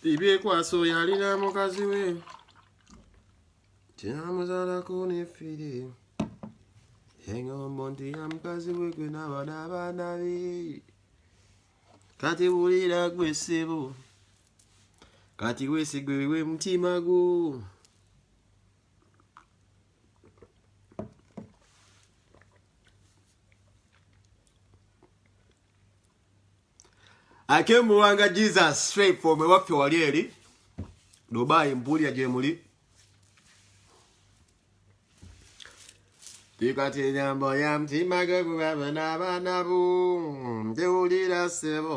bibyekwasa oyo alina mukazi we kyamuzalako nefiri engombo nti ya mukazi we gwe nabana abaana be kati wulira gwe ssebo kati wesigwewe mutima gwo ate muwanga jesus straight from ewaffe wali eri dubai mpuulira gyemuli tikati enyambo ya mutima gwe gubaba n'abaana bu ndiwulira sebo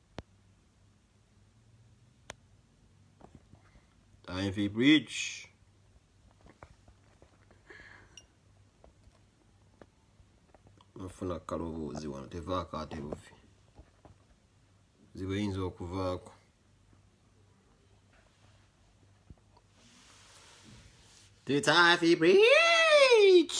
Ivy Bridge. nfuna kaloboozi wano tevaako ate buvi ziba eyinza okuvaako Tutafi Bridge.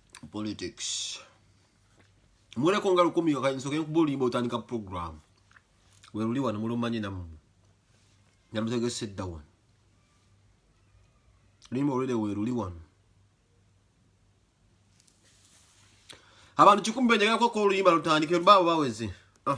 politics muleko nga lukumi yokansoke nkuba oluyimba otandika program weruli wano mulumanye namu nalutegese dda wano luyimba olwere weruli wano abantu kikumi benjagala kwekka oluyimba lutandike lubaabo baweze ah.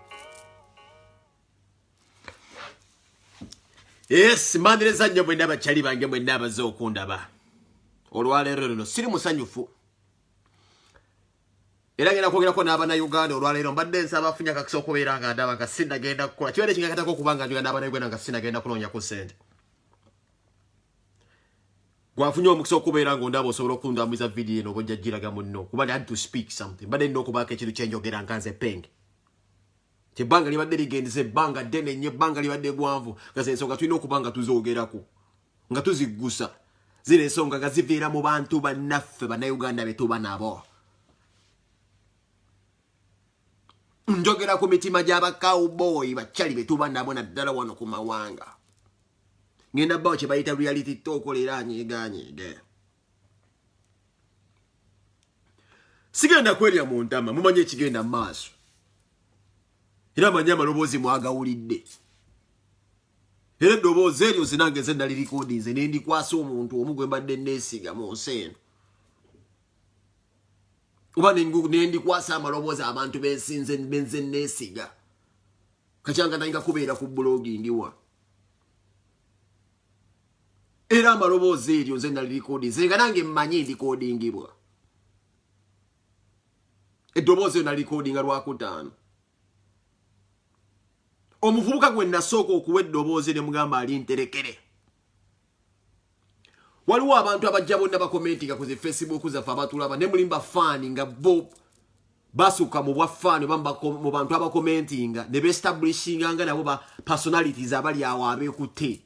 yes mbaniriza nnyo mwenna abakyali bange mwenna abaze okundaba olwaleero luno siri musanyufu era ngenda kwogerako n'abanauganda olwaleero mbadde nsaba afunya kakisa okubeera nga ndaba nga sinagenda kukola kibeera ekingakatako okuba nga njoga n'abanauganda nga sinagenda kunoonyaku sente Gwe afunye omukisa okubeera ng'ondaba osobola okundambuza vidiyo eno oba ojja giraga munno kuba had to speak something mbadde nina okubaako ekintu kye njogera nga nze penge kyebbanga libadde ligendeza ebbanga ddene nnyo ebbanga libadde gwanvu nga ze nsonga tulina okuba nga tuzoogerako nga tuziggusa zino ensonga nga ziviira mu bantu bannaffe bannayuganda be tuba nabo njogera ku mitima gy'abakawubooyi bakyali be tuba nabo naddala wano ku mawanga ngenda bawo kyebayita reality tokola era anyeganyeege sigenda kwerya mu ntama mumanye ekigenda mu maaso era manye amaloboozi mwagawulidde era eddoboozi eryo zinange ze nali likodinze ne ndikwasa omuntu omu gwe mbadde neesiga mu nsi eno oba ne ndikwasa amaloboozi abantu bensinze benze neesiga Kachanga nainga kubeera ku blogi ndiwa. Era amaloboozi eryo nze nali likodi nze nga nange mmanyi ndikodingibwa. Eddoboozi eryo nali likodi nga lwakutaano. Omuvubuka gwe nasooka okuwa eddoboozi ne mugamba ali nterekere. waliwo abantu abajja bonna bakomentinga ku zi facebook zaffe abatulaba ne mulimba faani nga bo basuka mu bwa faani oba mu bantu abakomentinga ne bestablishinga nga nabo ba personalities abali awo abekutte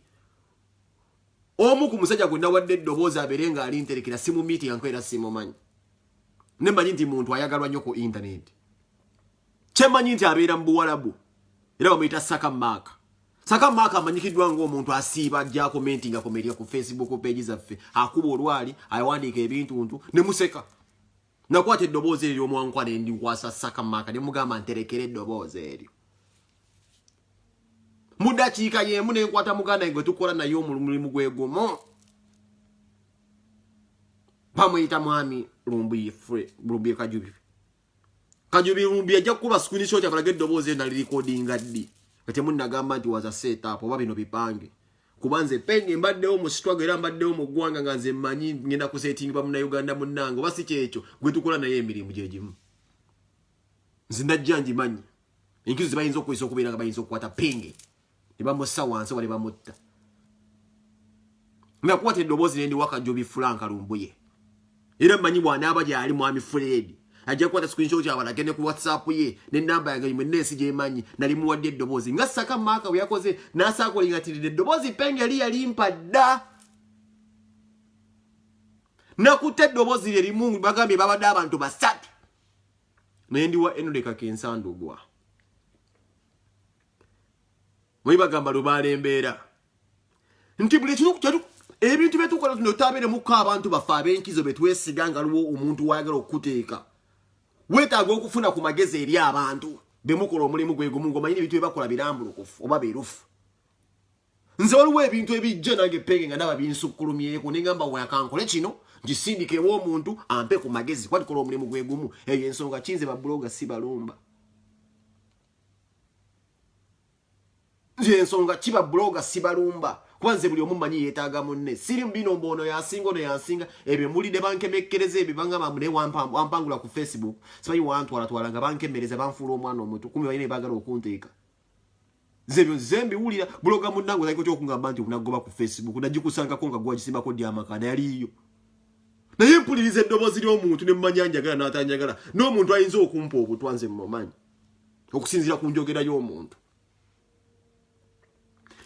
omu ku musajja gwe nawadde eddoboozi abeere nga ali nterekera simu meeting anko era simumanyi ne manyi nti muntu ayagalwa nnyo ku intaneti kyemanyi nti abeera mu buwalabu era bamuyita saka maaka Saka Mark amanyikiddwa ng'omuntu asiiba ajja komentinga ku media ku Facebook page zaffe akuba olwali awandiika ebintuntu ne museka nakwata eddoboozi eryo omwankwa ne ndikwasa Saka Mark ne mugamba nterekera eddoboozi eryo mu dakiika y'emu ne nkwata muganda gwe tukola naye omulimu gwe gumu bamuyita mwami lumbuye kajubi Kanyubi Lumbi ajja kukuba screenshot akalage eddoboozi ena lirikodinga ddi nga temunnagamba nti waza set up oba bino bipange kuba nze penge mbaddewo mu sitwago era mbaddewo mu ggwanga nga nze mmanyi ngenda kusetingibwa munauganda munnange oba si kyekyo gwe tukola naye emirimu gye gimu nze ndajja ngimanyi enkizo ze bayinza okukozesa okubeera nga bayinza okukwata penge ne bamussa wansi oba ne bamutta nakuwata eddoboozi ne ndiwaka jobi fulanka lumbuye era mmanyi bw'anaaba gyali mwami fuleedi ajja kukwata sikwinso kyabalage ne ku whatsapp ye ne namba yange imwe neensi gyemanyi nali muwadde eddoboozi nga saka maaka bwe yakoze n'asaakulingatirira eddoboozi penge li yalimpa dda nakutte eddoboozi lye limu bagambye babadde abantu basatu naye ndiwa enolekaka ensandugwa bwe bagamba lubaala embeera nti buli ekimu ebintu bye tukola tuno tutabeeremuko abantu baffe ab'enkizo be twesiga nga luwo omuntu wayagala okukuteeka weetaaga okufuna ku magezi eri abantu be mukola omulimu gwe gumu ng'omanyi n'ebintu bye bakola birambulukufu oba birufu nze waliwo ebintu ebijja nange penge nga ndaba binsukkulumyeko ne ngamba weyakankole kino ngisindika ew'omuntu ampe ku magezi kuba tukola omulimu gwe gumu eyo ensonga kinze babuloga si balumba yensonga kiba buloga sibalumba kuba nze buli omu manyi yetaaga munne siri bino mbu ono yasinga ono yasinga ebyo mulide bankemekkereza ebyo banga bambu naye wampangula ku facebook simanyi wantwalatwala nga bankemereza banfuula omwana omuto kumi balina ebagala okunteeka nze ebyo nze mbiwulira buloga munnange ozaiko ty okungamba nti onagoba ku facebook nagikusangako nga gwagisimbako dy amaka nayaliiyo naye mpuliriza eddoboozi ly'omuntu ne mumanya njagala n'atanjagala n'omuntu ayinza okumpa obutwa nze mumanyi okusinziira ku njogera y'omuntu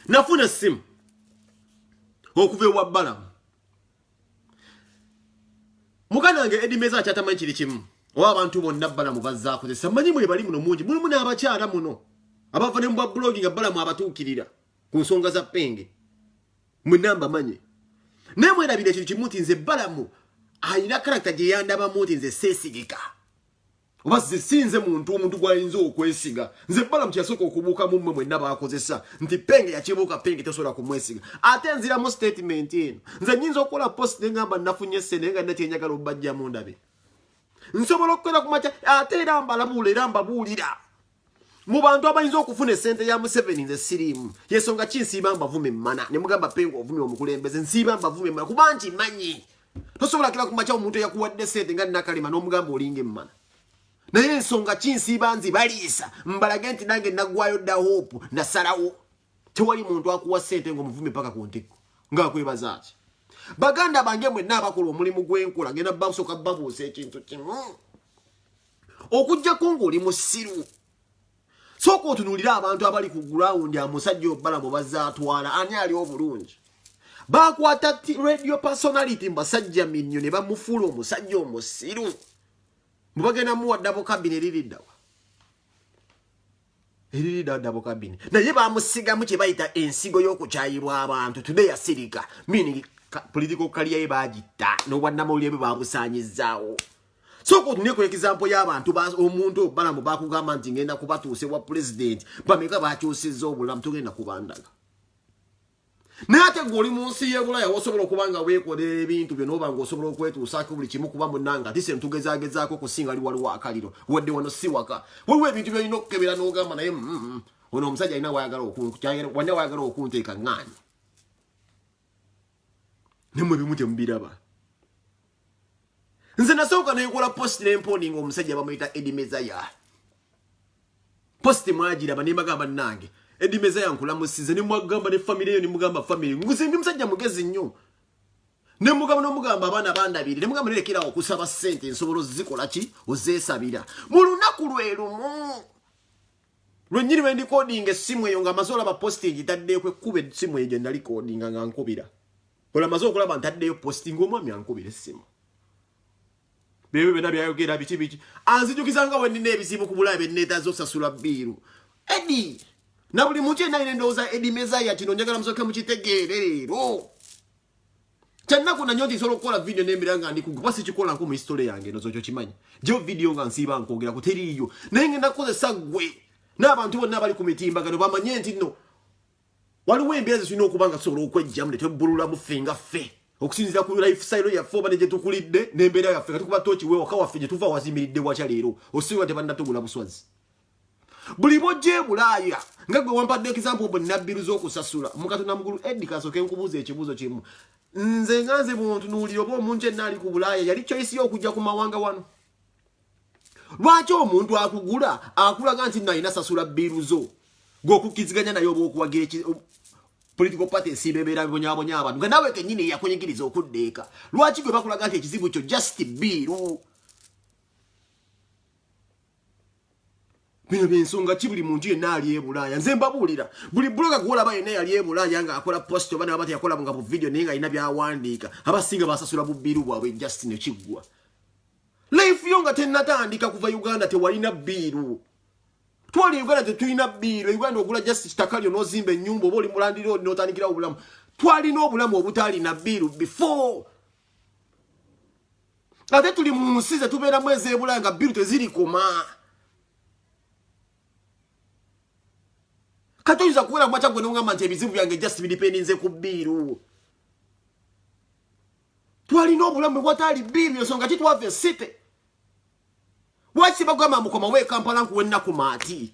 nafuna essimu okuva ewa balamu muganda wange edimeza akyatamanyi kiri kimu oba abantu bonna balamu bazakozesa manyi mwe bali muno mungi mulimu n'abakyala muno abava ne mubwa bulogi nga balamu abatuukirira ku nsonga za penge mwenamba manyi naye mwerabira ekintu kimu nti nze balamu alina karakita gye yandabamu nti nze seesigika oba ze si nze muntu omuntu gwayinza okwesiga nze balamu kyeyasooka okubuuka mu mmwe mwenna baakozesa nti penge yakibuuka penge tesobola kumwesiga ate nziramu statement eno nze nyinza okukola post ne ngamba nafunye sene nga nakyenjagala obajjamu ndabe nsobola okukola ku makya ate era mbalabuula era mbabuulira mu bantu abayinza okufuna esente ya museveni nze siriimu yensonga ki nsiiba mbavume emmana ne mugamba penga ovumye omukulembeze nsiiba mbavume emmana kuba nti manyi tosobola kira kumakya omuntu eyakuwadde sente nga nakalema n'omugamba olinga emmana naye ensonga ki nsiiba nzi baliisa mbalage nti nange nagwayo dda hope nasalawo tewali muntu akuwa sente ngaomuvume paka ku ntikko ngaakwebaza ki baganda bange mwenna abakola omulimu gw'enkola ngenda basoka babuusa ekintu kimu okujjako ng'oli musiru sooka otunuulire abantu abali ku gurawundi amusajja obala mu bazaatwala ani ali obulungi baakwata radio personality mu basajja minnyo ne bamufuula omusajja omusiru mubagenda muwaddamu kabine liriddawa Eriri dada mu kabini. Naye bamusigamu kye bayita ensigo y'okukyayirwa abantu. Today yasirika. Meaning political career ye bagitta n'obwannamawulire bwe babusaanyizzaawo. Soko tunye ku example y'abantu ba omuntu obalamu bakugamba nti ngenda kubatuuse wa president bameka bakyusizza obulamu tugenda kubandaga. naye ate gwe oli mu nsi y'ebulaya wosobola okuba nga weekolera ebintu byo nooba nga osobola okwetuusaako buli kimu kuba munanga ati sente tugezagezaako okusinga ali waliwo akaliro wadde wano si waka waliwo ebintu byolina okukebera n'ogamba naye mm, mm, mm. ono omusajja alina wayagala okunkukyawalina wayagala okunteeka ŋŋaanyi nemwe bimu temubiraba nze nasooka nenkola post nemponinga omusajja bamuyita edi mezaya post mwagiraba nembaga bannange edi mezaya nkulamusize nemwagamba ne famire eyo nemugamba famire nguze ndi musajja mugezi nnyo nemugamba nomugamba abaana bandabiri nemugamba nerekerawo okusaba ssente nsobola ozikola ki ozesabira mu lunaku lwe lumu Lwennyini lwe ndikodinga essimu eyo ng'amaze olaba positi ngitaddeyo kwe kkuba essimu eyo gye nali kodinga nga nkubira. Olwo amaze okulaba ntaddeyo positi ng'omwami ankubira essimu. Bebyo byonna byayogera biki biki. Anzijukiza nga bwe nnina ebizibu ku bulabe bye nneetaaza osasula bbiiru. Eddie! Na buli muntu yenna alina endowooza Eddie Mezaya kino njagala musooke mukitegeere leero. kyannaku nanyo nti nsobola okukola vidiyo nembera nga ndiku kuba sikikolanko mu hisitole yange nozo kyo kimanyi jo vidiyo nga nsiiba nkwogera ku teriiyo naye ngenda kukozesa gwe n'abantu bonna abali ku mitimbagano bamanye nti no waliwo embeera zitulina okuba nga tusobola okwejjamu ne twebbululamu ffe nga ffe okusinzira ku lifestyle yaffe oba ne gye tukulidde n'embeera yaffe nga tukuba tooki wewaka waffe gye tuva wazimiridde wakya leero osiba tebanna tugula buswazi buli bojja ebulaaya nga gwe wampadde example obo nabbiru z'okusasula mukatonda mugulu edi kasooke nkubuuza ekibuuzo kimu nze nga nze bwontunuulira oba omuntu enna ali ku bulaaya yali choice yo okujja ku mawanga wano lwaki omuntu akugula akulaga nti nalina sasula bbiru zo gweokukkiziganya naye oba okuwagira political party esiiba ebeera bibonyabonya abantu nga nawe kenyini eyakunyigiriza okudda eka lwaki gwe bakulaga nti ekizibu kyo just bbiru bino byensonga ki buli muntu yenna ali ebulaaya nze mbabuulira buli buloga gwolaba yenna yali ebulaaya nga akola post oba nabati yakola nga bu vidiyo naye nga alina byawandiika abasinga basasula bubiru bwabwe just nekiggwa life yo nga tennatandika kuva uganda tewalina biiru twali uganda tetulina biiru uganda ogula just kitaka lyo nozimba ennyumba oba oli mulandira oli notandikirawo obulamu twalina obulamu obutaalina biiru before ate tuli mu nsi zetubeeramu ezebulaya nga biru tezirikoma kati oyinza kuwera kumakya gwe nongamba nti ebizibu byange just bidipendinze ku biiru twalina obulamu bwataali biiru ensonga ki twava esite lwaki bagamba mukomawo ekampala nkuwa ennaku maati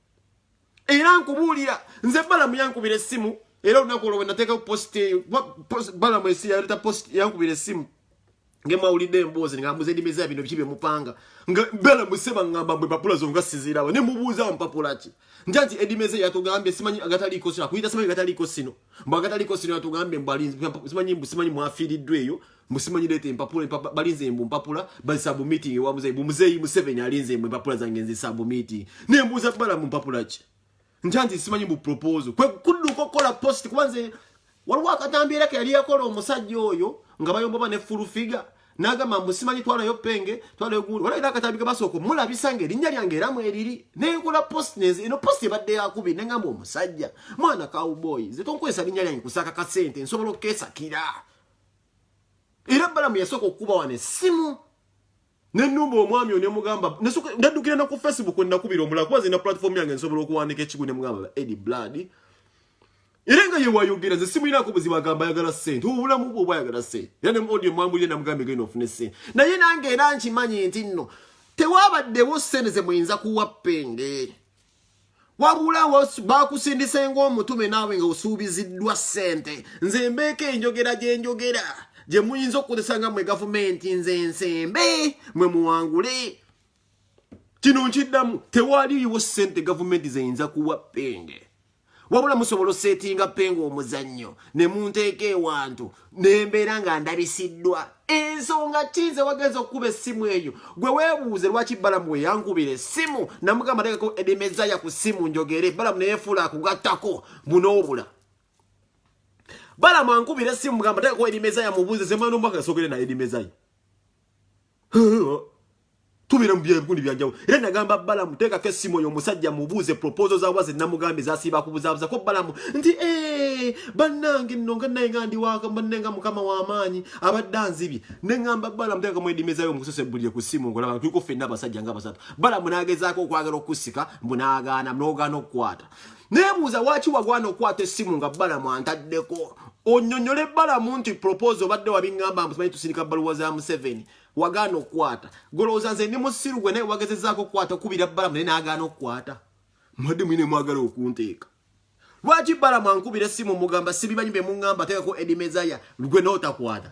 era nkubuulira nze balamu yankubira essimu era olunaku olwo wenateekao post balamu esi yaleta post yankubira essimu ngemwawulidde emboozi nga muze ndimeza bino biki byemupanga nga bela museba ngamba mwe papula zo nga siziraba ne mubuuza mpapula ki nja nti edimeze yatugambye simanyi agataliiko sino akuyita simanyi agataliiko sino mbu agataliiko sino yatugambye mbu simanyi mbu simanyi mwafiiriddwa eyo mbu simanyi leeta empapula empapa balinze mbu mpapula bazisabu meeting ewa muzeyi mbu muzeyi museveni alinze mbu empapula zange nzisabu meeting naye mbuuza bala mu mpapula ki ntanti simanyi mbu proposal kwe kudduka okukola post kuba nze waliwo akatambi era ke yali yakola omusajja oyo nga bayomboba ne full figure nagamba mbu simanyi twalayo penge twalayo gundi waliwo era akatambi ke basooka omulabisa nga erinnya lyange era mweriri naye nkola post nenze eno post ebadde yakubi ne ngamba omusajja mwana cowboy nze tonkwesa linnya lyange kusaka kasente nsobola okukesakira era balamu yasooka okukuba wano essimu nenumba omwami o nemugamba naddukira naku facebook enakubira omulala kuba zirina platform yange nsobola okuwandika ekigu nemugamba edi blood era nga yewayogera nze simuyinako buzibu agamba ayagala sente obulamu bwe obwayagala sente era ne muodio mwambulire namugamba egenda ofune sente naye nange era nkimanyi nti nno tewabaddewo sente ze muyinza kuwa penge wabula bakusindise ng'omutume naawe nga osuubiziddwa ssente nze mbeeko enjogera gye njogera gye muyinza okukozesa nga mwe gavumenti nze nsembe mwe muwangule kino nkiddamu tewaliiwo ssente gavumenti zeyinza kuwa penge wabula musobola osetinga penga omuzannyo ne munteeka ewantu nembeera nga ndabisiddwa ensonga kize wagenza okukuba essimu eyo gwe weebuuze lwaki balamu we yankubira essimu namugamba tekako edimezaya ku ssimu njogere balamu neyefuula akugattako bunoobula balamu ankubira essimu mugamba tekako edimezaya mubuuze zemwana omwaka yasogere naye edimezaya tubira mubye bikundi byanjawo era nagamba bala muteka ke simo yo musajja mubuze proposal za waze namugambe za siba kubuzabuza ko bala ndi eh banange no nga naye ngandi waka banenga mukama wa amanyi abadanzi bi nengamba bala muteka mwe dimeza yo musose bulye ku simo ngola kuko fe naba sajja ngaba sato bala munageza ko kwagala okusika munagana mnogano kwata nebuuza waki wagwana okwata essimu nga balamu antaddeko onyonyole balamu nti propose obadde wabingamba mbusimanyi tusirika baluwa za museveni wagaana okukwata golowooza nze ndi musiru gwe naye wagezezaako okukwata okubira balamu naye nagaana okukwata mwadde mwine mwagala okunteeka lwaki balamu ankubira essimu mugamba sibimanyi bemungamba teekako edimezaya lgwe nootakwata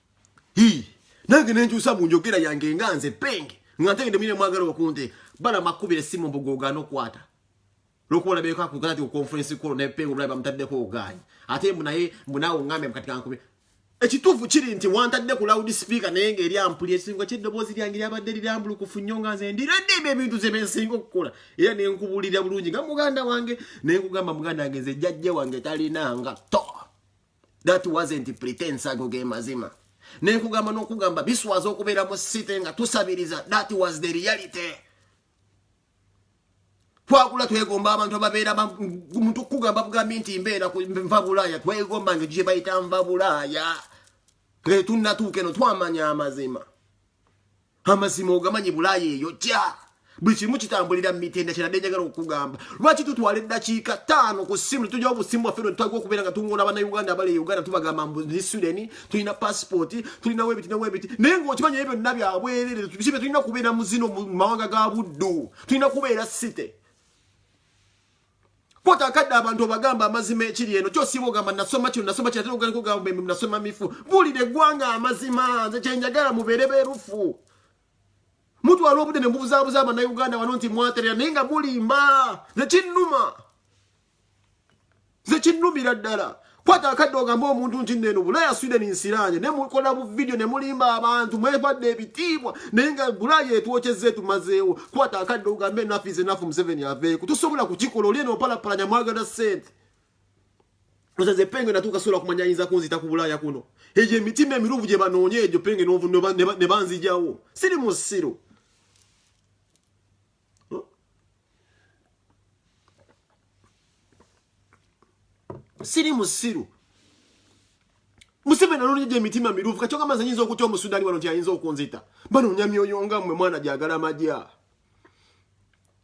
Hii. Nange nenjusa mu njogera yange nga nze penge. Nga ntegede mine mwagala okunte. Bala makubire simu mbugoga no kwata. Lokuwa na beka kukana tiyo konferensi kuro na penge mbraiba mtadde kwa uganyi. Ate mbu na ye mbu na ungame mkatika nkumi. Ekitufu chiri nti wantadde ku loud speaker naye nga eri ampulira ekisinga ky'eddoboozi lyange lyabadde lirambulukufu nnyo nga nze ndiradde ebyo ebintu ze bensinga okukola era ne nkubulira bulungi nga muganda wange ne nkugamba muganda wange nze jjajja wange talinanga to that wasn't pretense ago ge mazima nenkugamba nokugamba biswaza okubeera mu site nga tusabiriza that was the reality twakula twegomba abantu ababeera muntu kugamba bugambi nti mbeera nva bulaaya twegomba nge gye bayita nva bulaaya twetunnatuuka eno twamanya amazima amazima ogamanyi bulaaya eyo ja buli kimu kitambulira mumitenda kyerade njagala okugamba lwaki tutwala eddakiika taano ku simu tujawo busimu bwaffe netutagwa okubeera nga tungona banauganda abali e uganda tubagamba mbuzi sudeni tulina pasipooti tulina webiti ne webiti naye ngaokimanyi ebyo byonna byabwerere kibe tulina kubeera muzino mu mawanga ga buddu tulina kubeera site Kota akadde abantu obagamba amazima ekiri eno kyosiiba ogamba nasoma kino nasoma kino ate ogenda kugamba embi nasoma mifu buulira eggwanga amazima nze kye njagala mubeere beerufu mutwala obudde ne mubuzaabuza abannayuganda wano nti mwaterera naye nga mulimba nze kinnuma nze kinnumira ddala kwata akadde ogambe omuntu nti neno bulaya sweden nsiranye ne mukola bu video ne mulimba abantu mwebadde ebitiibwa naye nga bulaya etwokyezza etumazeewo kwata akadde ogambe enafu is enafu museveni aveeko tosobola kukikola oli eno opalapalanya mwagala sente ozaze penge natuuka sobola kumanya ayinza kunzita ku bulaya kuno egyo emitima emiruvu gye banoonya egyo penge ne banzijawo siri musiru siri musiru museveni anonyeja emitima mirufu kacoka mazi ayinza okutya omusudani wano nti ayinza okunzita banonya myoyo nga mwe mwana gyagala amagya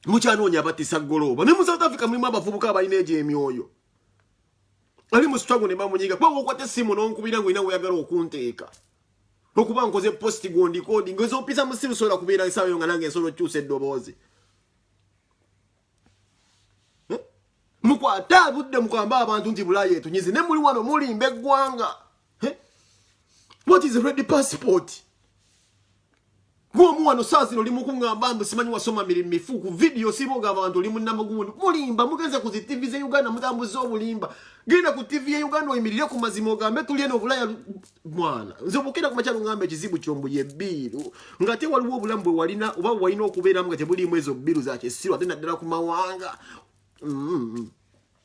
mukyanoonya abatisa golooba ne mu south africa mulimu abavubuka abalina egyo emyoyo ali mu sitwago ne bamunyiga kuba wokwata essimu n'onkubira ng'olina weeyagala okunteeka okuba nkoze post gondikodi ngezopisa musimu sobola kubeera esawa yo nga nange nsobola okyusa eddoboozi eh? mukwate abudde mukwamba abantu nti bulaya etunyizi ne muli wano mulimba eggwanga eh? what is ready passport Gwomu wano saa zino oli mukungamba mbu simanyi wasoma miri mifu ku vidiyo siboga abantu oli munamagundu mulimba mugenze ku zi tivi ze uganda mutambuza obulimba genda ku tivi ye uganda oyimirire ku mazima ogambe tuli eno obulaya mwana nze obukenda kumakyalo ngamba ekizibu kyombu ye biiru nga te waliwo obulamu bwe walina oba walina okubeeramu nga tebuliimu ezo biiru za kisiru ate naddala ku mawanga mm -hmm.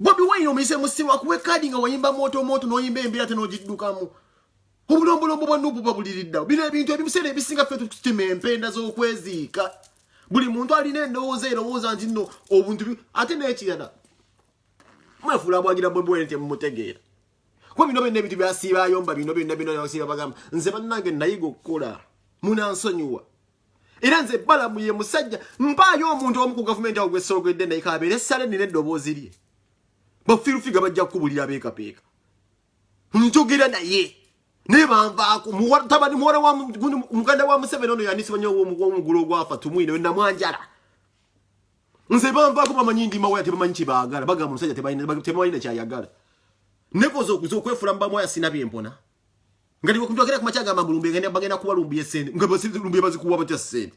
Bobi Wine omuyize musiru akuwe kadi nga wayimba moto moto noyimba embira ate nogiddukamu obulombolombo bwa nupu babuliridda bino ebintu ebimuseera ebisinga ffe tutima empenda z'okweziika buli muntu alina endowooza erowooza nti no obuntu ate n'ekirala mwefuula abwagira Bobi Wine temutegeera kuba bino byonna ebintu byasiiba ayomba bino byonna bino yasiiba bagamba nze bannange nayiga okukola munansonyiwa era nze balamu ye musajja mpaayo omuntu omu ku gavumenti awo gwesoogedde naye kabeere sale nina eddoboozi lye bafirufiga bajja kukubulira beekapeeka njogera naye naye banvaako mutabani muwala wa muganda wa museveni ono yandisiba nyo omugulu ogwafa tumwine namwanjala nze banvaako bamanyi ndimawaya tebamanyi kyebaagala bagamba omusajja tebalina kyayagala nekoza okuza okwefula mubamwaya sina byempona ngati kunjogera ku machaga mambo lumbe ngani bagenda kuwa lumbi yesende nga basi lumbi bazi kuwa batya sende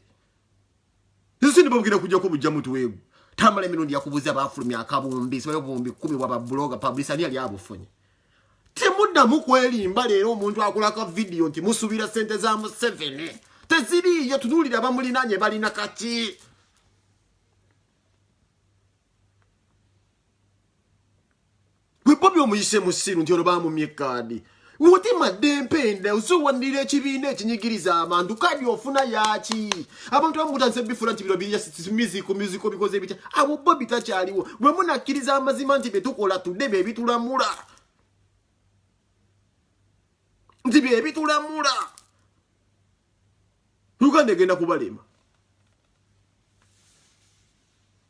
Yesu ndi babugenda kujja ko bujja mutu wegu tamale mirundi yakubuza bafulumi akabumbi so yobumbi kumi wa babloga publisher ali ali abufunye temuda mukweli mbale ero omuntu akula ka video nti musubira sente za mu 7 teziri yo tunulira bamuli nanye bali nakati gwe bobi omuyise musiru nti ono bamumye kaadi mutima dempenda oziwanirira ekibiina ekinyigiriza abantu kaadi ofuna yaki abantu bamutandise bifula nti bino biyasimiziku miziko bikoze bitya abo bo bitakyaliwo bwe munakkiriza amazima nti byetukola tudde byebitulamula nti byebitulamula uganda egenda kubalema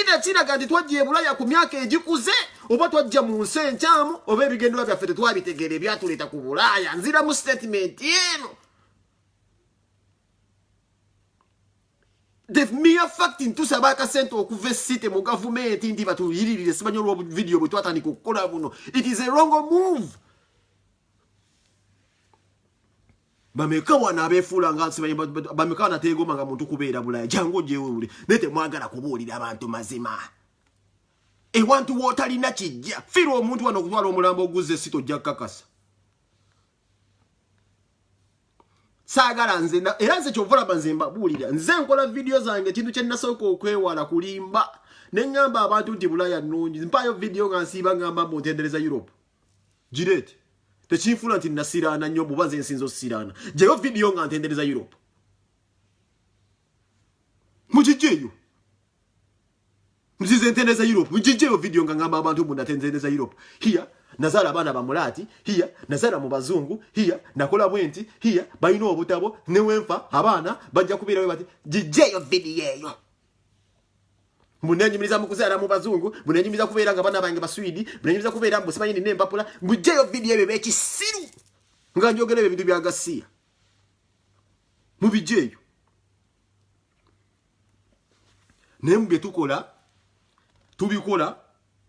Ida kiraga nti twajja ebulaya ku myaka egikuze oba twajja mu nsi enkyamu oba ebigenderwa byaffe tetwabitegeera ebyatuleeta ku bulaaya nziramu sitatimenti eno the mere fact ntusaba akasente okuva esite mu gavumenti ndi batuyiririre simanyi olwobuvidiyo bwe twatandika okukola buno it is a wrong move Bameka wano abefuula nga nsimanyi bameka wano ateegoma nga muntu kubeera bulaya jangu ojewewule naye temwagala kubuulira abantu mazima ewantu wootalina kijja fiirwa omuntu wano okutwala omulambo oguzza esita ojja kukakasa saagala nze era nze kyovolaba nze mbabuulira nze nkola vidiyo zange ekintu kye nasooka okwewala kulimba ne ŋŋamba abantu nti bulaya nnungi mpaayo vidiyo nga nsiiba ŋŋamba mbu ntendereza europe gireete tekinfuula nti nasiraana nnyo buba nze nsinza osiraana gyeyo vidiyo nga ntendereza europe mugijjeeyo nzize ntendereza europe mugijjeeyo vidiyo nga ngamba abantu mbu natendereza europe hiya nazaala abaana bamulaati hiya nazaala mu bazungu hiya nakola bwenti hiya balina obutabo newenfa abaana bajja kubeerawe bati gijjeeyo vidiyo eyo munenyumiriza mukuzaala mu bazungu munenyumiriza kubeera nga bana bange baswidi munenyumiriza kubeera mbu simanyi nina empapula mujjeyo vidiyo ebyo byekisiru nga njogera ebyo ebintu bya gasiya mubijjeeyo naye mu byetukola tubikola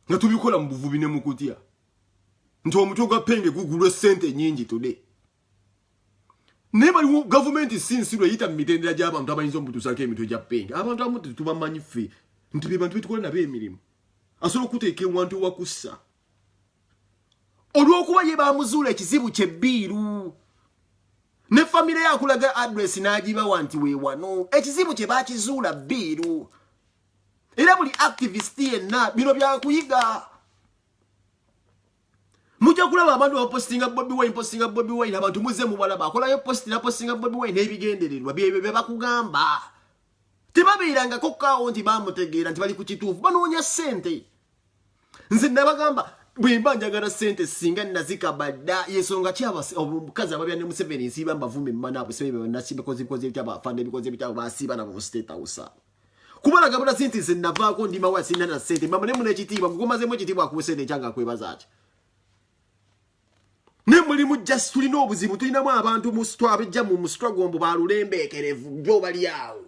nga tubikola mu buvubi ne mukutya nti omutwe gwa penge gugulwa esente nyingi today naye baliwo gavumenti si nsi lweyita mu mitendera gy'abantu abayinza omutuusaako emitwe gya penge abantu abamu tetubamanyi ffe nti be bantu betukola nabo emirimu asobola okuteeka ewantu ewakussa olw'okuba ye bamuzuula ekizibu kye bbiiru ne famire yakulaga adress n'agibawa nti weewano ekizibu kye bakizuula bbiiru era buli activist yenna bino byakuyiga mujja kulaba abantu bapostinga bobi wine postinga bobi wine abantu muze mubalaba akolayo posti napostinga bobi wine n'ebigendererwa byebyo bye bakugamba tebabeerangako kaawo nti bamutegeera nti bali ku kituufu banoonya ssente nze nabagamba bwemba njagala ssente singa nazikabadda yensonga ki omukazi ababya ne museveni nsiiba mbavuma emmana abusebe banasimbikozibikozi ebitabo afanda ebikozi ebitabo basiiba nabo mu state house abo kubala gabula sinti nze navaako ndi mawa sina na sente mama nemuna ekitiibwa gukomazemu ekitiibwa akuwe sente ekyanga akwebaza ki ne mulimu just tulina obuzibu tulinamu abantu mu sitwa abejja mu musitwa gwombo balulembeekerevu gyo bali awo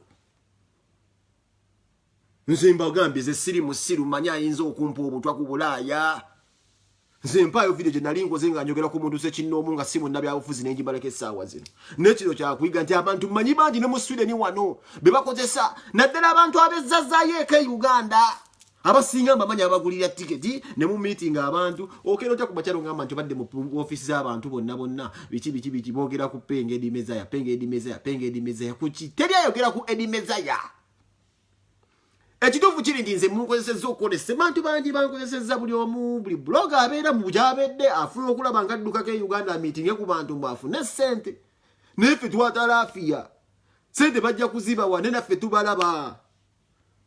nze mbagambye ze siri musiru manya ayinza okumpa obutwa ku bulaaya nze mpaayo vidiyo gye nali nkoze nga njogera ku muntu sekinnoomu nga si munnabyabufuzi ne ngimalako essaawa zino naye kino kyakuyiga nti abantu mmanyi bangi ne mu swideni wano be bakozesa naddala abantu abezzazayo eka e uganda abasinga mbamanyi abagulira tiketi ne mu meeting abantu okera otya ku makyalo ngamba nti obadde mu ofiisi z'abantu bonna bonna biki biki biki boogera ku penga edimezaya penga edimezaya penga edimezaya kuki teri ayogera ku edimezaya ekituufu kiri nti nze munkozesezza okukola esemantu bangi bankozesezza buli omu buli buloga abeera mu gyabedde afuna okulaba nga addukako e uganda miitinge ku bantu mbu afune sente naye ffe twatalafiya sente bajja kuzibawa naye naffe tubalaba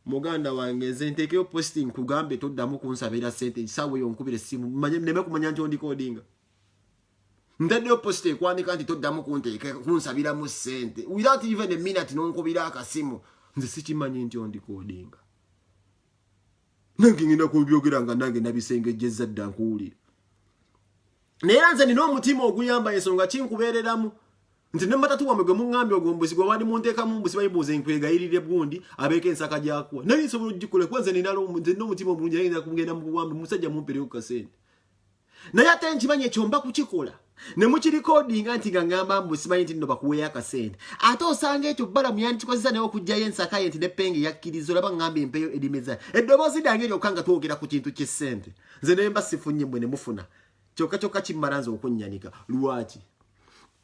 muganda wange nze nteekeyo posting kugambe toddamu kunsabira sente ekisaawa eyo nkubira essimu neme kumanya nti ondikoodinga ntaddeyo posita ekwandika nti toddamu kunteeka kunsabiramu ssente without even eminut nonkubira akasimu nze sikimanyi nti ondikodinga nange ngenda kubyogera nga nange nabisengejjezza dda nkuwulira naye era nze nina omutima oguyamba ensonga kinkubeereramu nti ne matatu wamwe gwe muŋŋambye ogwo mbuzi gwe wali munteekamu mbuzi bayibuuza enkwegayirire gundi abeeko ensaka gyakuwa naye nsobola okugikola kuba nze nina omutima omulungi naye ngenda kumugenda mu buwambi musajja mumpereyo ku kasente naye ate nkimanyi ekyo mba kukikola ne mukirikodinga nti nga ngamba mbu simanyi nti nno bakuweeyo akasente ate osanga ekyo balamu yandikikozesa naye okugjayo ensakaye nti nepenge yakkiriza olaba ngamba empeyo erimeza eddoboozi dange lyokka nga twogera ku kintu kyessente nze naye mba sifunye mwe ne mufuna kyokka kyokka kimmala nze okunnyanika lwaki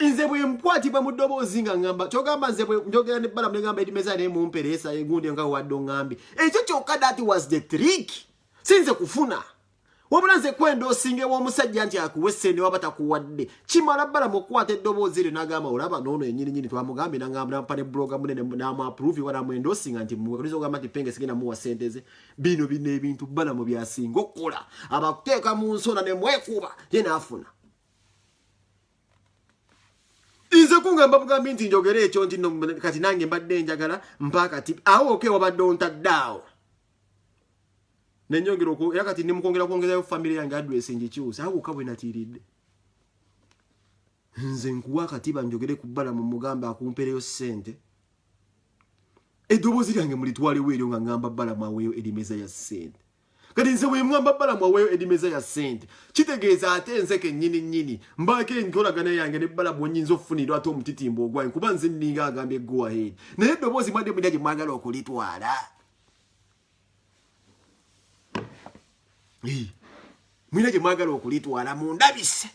nze bwe nkwatibwa mu ddoboozi nga ngamba kyogamba nze bwe njogera ne balamu negamba erimeza naye mumpereesa egundi nga wadde ongambi ekyo kyokka that was the trick sinze kufuna wabula nze kwenda osinga ew'omusajja nti akuwe sente waba takuwadde kimala bala mukukwata eddoboozi lyo nagamba olaba noono enyininyini twamugambye nangambnampa ne buloga munene namuapuruvi wala mwenda osinga nti muwakaliza ogamba nti penge sigenda muwa sente ze bino bino ebintu bala mu byasinga okukola abakuteeka mu nsona ne mwekuba ye naafuna nze kungamba bugambi nti njogere ekyo nti kati nange mbadde njagala mpakati awo okeewabadde ontadde awo nenyongera oku era kati ndi mukwongera kwongezayo family yange address ngikyuse awo wokka bwe natiiridde nze nkuwa akatiba njogere ku bbala mu mugamba akumpereyo ssente eddoboozi lyange mulitwalewo eryo nga ngamba bbala mwaweeyo erimeza ya ssente kati nze wemwamba bbala mwaweeyo erimeza ya ssente kitegeeza ate nze kennyini nnyini mbaako enkolagana yange ne bbala bwenyinza okufunira ate omutitimbo ogwange kuba nze nninga agambye goahead naye eddoboozi mwadde mulya gye mwagala okulitwala mulina gye mwagala okulitwala mundabise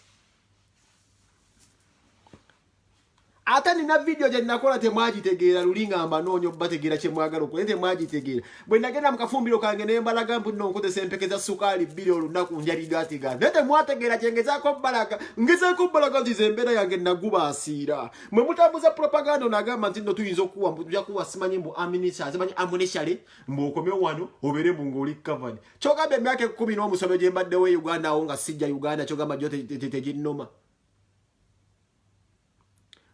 ate nina vidiyo gye nakola temwagitegeera luli nga mbanoonya obategeera kye mwagala okula temwagitegeera bwe nagenda mu kafumbiro kange naye mbalaga mbu nno nkozesa empeke za sukaali bbiri olunaku nja bigaatigaati naye temwategeera kye ngezaako balaga ngezaako balaga nti ze embeera yange nagubaasiira mwe mutambuza propaganda ono agamba nti no tuyinza okuwa mbu tuja kuwa simanyi mbu aminisa simanyi amunishale mbu okomeo wano obere mbu ngoli covered kyogamba emyaka ekumi n'omusobe gye mbaddewo e uganda awo nga sijja uganda kyogamba gyo teginnoma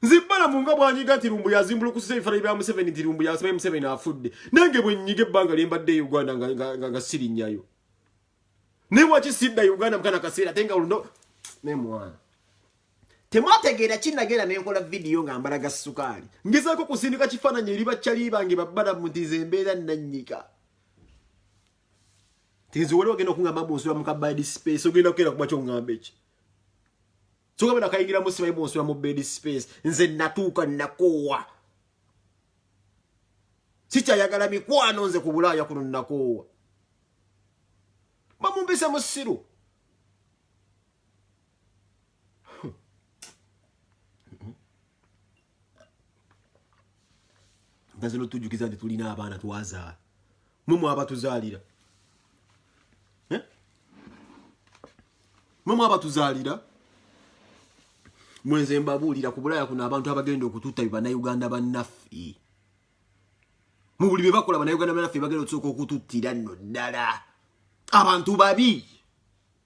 nzibbala mu nga bwanyiga nti lumbu yazimbula okusiza ebifaananyi bya museveni nti lumbu yasimaye museveni afudde nange bwenyiga ebbanga lye mbadde e uganda nga sirinnyayo naye waki sidda uganda mukana kaseera ate nga oluno naye mwana temwategeera kinagenda nenkola vidiyo nga mbalaga sukaali ngezaako kusindika kifaananyi eri bakyali bange babbala mutiza embeera nannyika tinziwali wagenda okungamba mu nsula mukabaidi space ogenda kukeera kuba kyongamba eki Tugambe na kaingira mu sibayi mwosula mu bed space. Nze natuka nakowa. Chicha yagala mikwano nze kubula ya kuno nakowa. Mamu mbisa musiru. naze notujjukiza nti tulina abaana twazaala mwe mwabatuzaalira eh? mwe mwabatuzaalira mwenze mbabuulira ku bulaya kuno abantu abagenda okututa banauganda bannaffe mu buli bye bakola banauganda bannaffe bagenda okusooka okututtira nno ddala abantu babi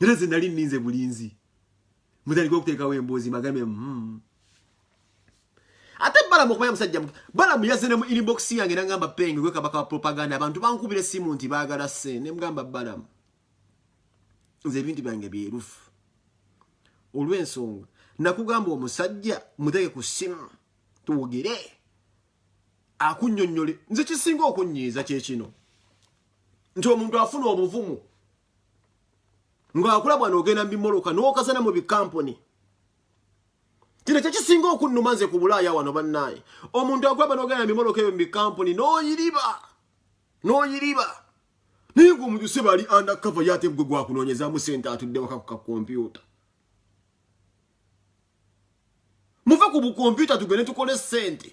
era nze nali nninze bulinzi mutandika okuteekawo emboozi magambe hmm. ate balamu okumanya musajja balamu yazze ne mu inbox yange nangamba penge gwe kabaka wa propaganda abantu bankubira essimu nti baagala se ne mugamba balamu nze ebintu byange byerufu olw'ensonga nakugamba omusajja muteeke ku ssimu twogere akunyonyole nze kisinga okunyiiza kyekino nti omuntu afuna obuvumu ng'akula bwana ogenda mu bimoloka n'okazana mu bikampuni kino kyekisinga okunnuma nze ku bulaaya wano bannaaye omuntu akula bwana ogenda mu bimoloka ebyo mu bikampuni n'oyiriba n'oyiriba naye ng'omuntu se bali anda kava ye ate gwe gwakunoonyezamu sente atudde waka ku kakompyuta muve ku bukompyuta tugende tukole sente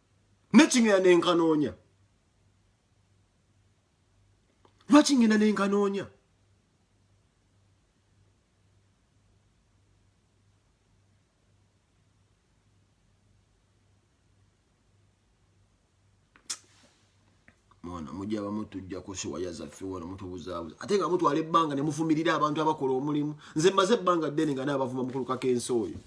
nekingenda nenkanoonya lwaki ngenda nenkanoonya mwana mujja bamu tujja kusiwaya zaffe wano mutubuzaabuza ate nga mutwala ebbanga ne muvumirira abantu abakola omulimu nze mmaze ebbanga ddene nga naabavuma mukulukako ensi oyo